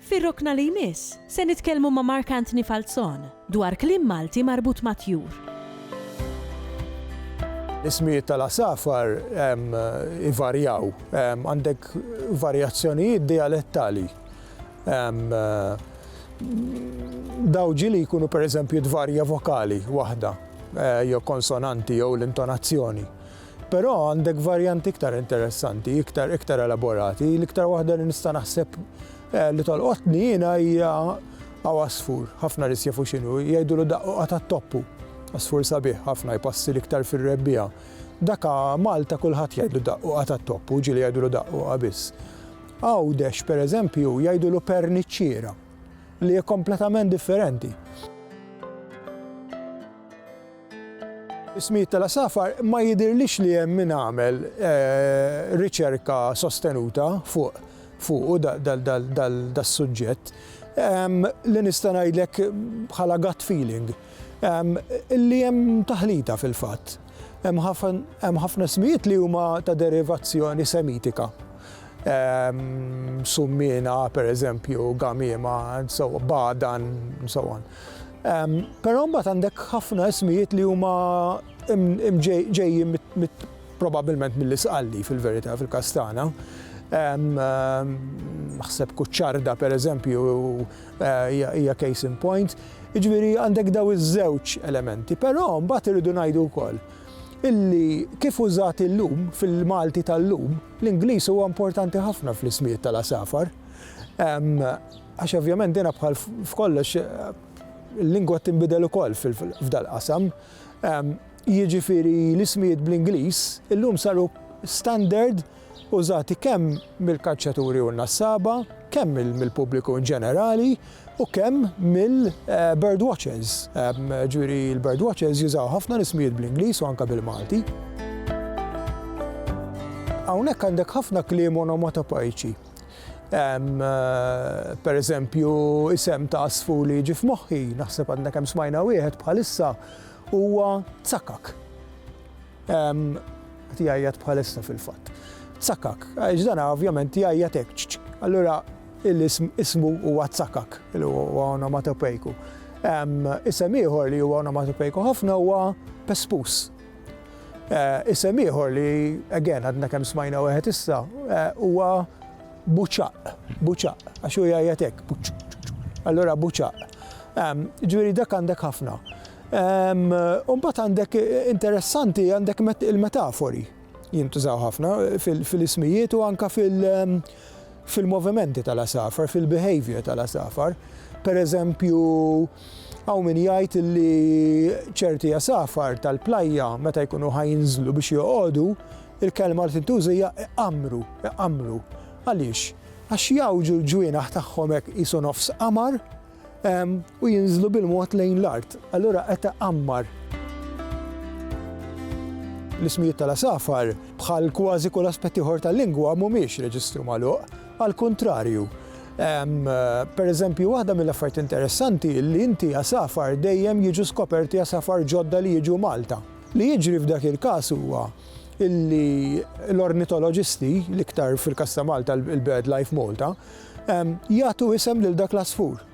Fir-rokna li jmiss, se nitkellmu ma' Mark Anthony Falzon dwar kliem Malti marbut mat-tjur. L-ismijiet tal-għasafar ivarjaw. Għandek varjazzjonijiet dijalettali. Dawn ġieli jkunu pereżempju tvarja vokali waħda jew konsonanti jew l-intonazzjoni. Però għandek varjanti iktar interessanti, iktar iktar elaborati. L-iktar waħda li nista' naħseb eh, li tolqotni jiena hija għaw asfur, ħafna nies jafu x'inhu, jgħidulu daqqu qata' toppu. Asfur sabiħ ħafna jpassi l-iktar fir-rebbija. Daka Malta kulħadd jgħidlu daqqu qata' toppu, ġieli jgħidulu daqqu biss. Għawdex, per eżempju, jgħidulu perniċċiera, li hija kompletament differenti. Is-smijt tal-għasafar ma jidhirlix li hemm min għamel riċerka sostenuta fuqu das-suġġett. Li nista' ngħidlek bħala gut feeling li hemm taħlita fil-fatt. Hemm ħafna smijiet li huma ta' derivazzjoni Semitika. Summiena, pereżempju, gamiema, bgħadan, and so on. Però mbagħad għandek ħafna ismijiet li huma ġejjin probabbilment mill-Isqalli fil-verità fil-Kastana. Naħseb Kuċċarda pereżempju hija case in point. Jiġifieri għandek daw iż-żewġ elementi, però mbagħad irridu ngħidu wkoll illi kif użat illum fil-Malti tal-lum, l-Ingliż huwa importanti ħafna fl-ismijiet tal-għasafar. Għax ovvjament din bħal f'kollox il-lingwa tinbidel ukoll f'dal-qasam. Jiġifieri l-ismijiet bl-Ingliż illum saru standard użati kemm mill-kaċċaturi u n-nassaba, kemm mill-pubbliku inġenerali u kemm mill-bird watchers. Ġifieri l-bird watchers jużaw ħafna l-ismijiet bl-Ingliż u anke bil-Malti. Hawnhekk għandek ħafna kliem onomatopeiċi Hemm, per eżempju, isem ta' għasfur li jiġi f'moħħi, naħseb għadna kemm smajna wieħed bħalissa, huwa tsakak. Qed jgħajjat bħalissa fil-fatt. Tsakak, għax dan ovvjament jgħajjat hekk. Allura l-ism ismu huwa tsakak, li huwa onomatopejku. Isem ieħor li huwa onomatopejku ħafna huwa pespus. Isem ieħor li, again, għadna kemm smajna wieħed issa, huwa buċaq, buċaq, għax hu jgħajjat hekk, allura buċaq. Ġifieri dak għandek ħafna. Umbagħad għandek interessanti għandek il-metafori jintużaw ħafna fil-ismijiet u anka fil-movimenti tal-asafar, fil-behavior tal-asafar. Per eżempju, Hawn min jgħid li ċerti għasafar tal-plajja meta jkunu ħa jinżlu biex joqogħdu, il-kelma li tintuża hija iqammru, iqammru. Għaliex? Għax jgħawġu l-ġwienaħ tagħhom hekk qisu nofs qamar u jinżlu bil-mod lejn l-art. Allura qed iqammar. L-ismijiet tal-għasafar, bħal kważi kull aspett ieħor tal-lingwa, mhumiex reġistru magħluq. Għall-kuntrarju, pereżempju, waħda mill-affarijiet interessanti hi li inti għasafar dejjem jiġu skoperti għasafar ġodda li jiġu Malta. Li jiġri f'dak il-każ huwa li l-ornitoloġisti, l-iktar fil-każ ta' Malta l-BirdLife Malta, jagħtu isem lil dak l-għasfur.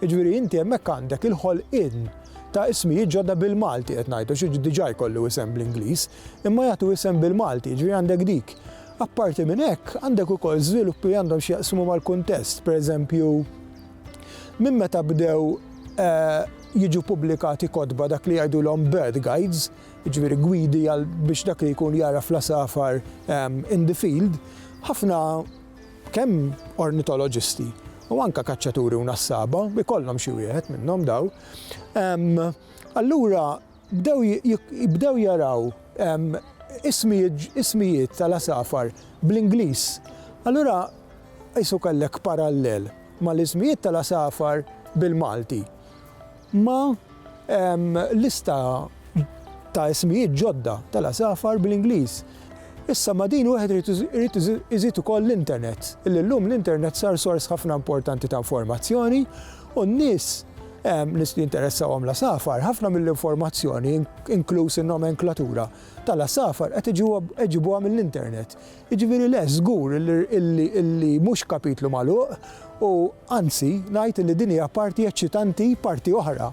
Jiġifieri inti hemmhekk għandek il-ħolqien ta' ismijiet ġodda bil-Malti qed ngħidu, xi diġà jkollu isem bl-Ingliż, imma jagħtu isem bil-Malti, jiġifieri għandek dik. Apparti minn hekk, għandek ukoll żviluppi li għandhom x'jaqsmu mal-kuntest, pereżempju, minn meta bdew jiġu pubblikati kotba dak li jgħidulhom bird guides, jiġifieri gwidi għal biex dak li jkun jagħraf l-għasafar in the field, ħafna kemm ornitoloġisti u anke kaċċaturi u nassaba, ikollhom xi wieħed minnhom dawn, allura bdew jaraw ismijiet tal-għasafar bl-Ingliż. Allura qisu kellek parallel mal-ismijiet tal-għasafar bil-Malti ma' lista ta' ismijiet ġodda tal-għasafar bl-Ingliż. Issa ma' din wieħed irid iżid ukoll l-internet, li llum l-internet sar sors ħafna importanti ta' informazzjoni, U n-nies li jinteressahom l-għasafar, ħafna mill-informazzjoni, inkluż in-nomenklatura, tal-għasafar qed iġibuha mill-internet. Jiġifieri le, żgur illi mhux kapitlu magħluq u anzi ngħid illi din hija parti eċċitanti, parti oħra.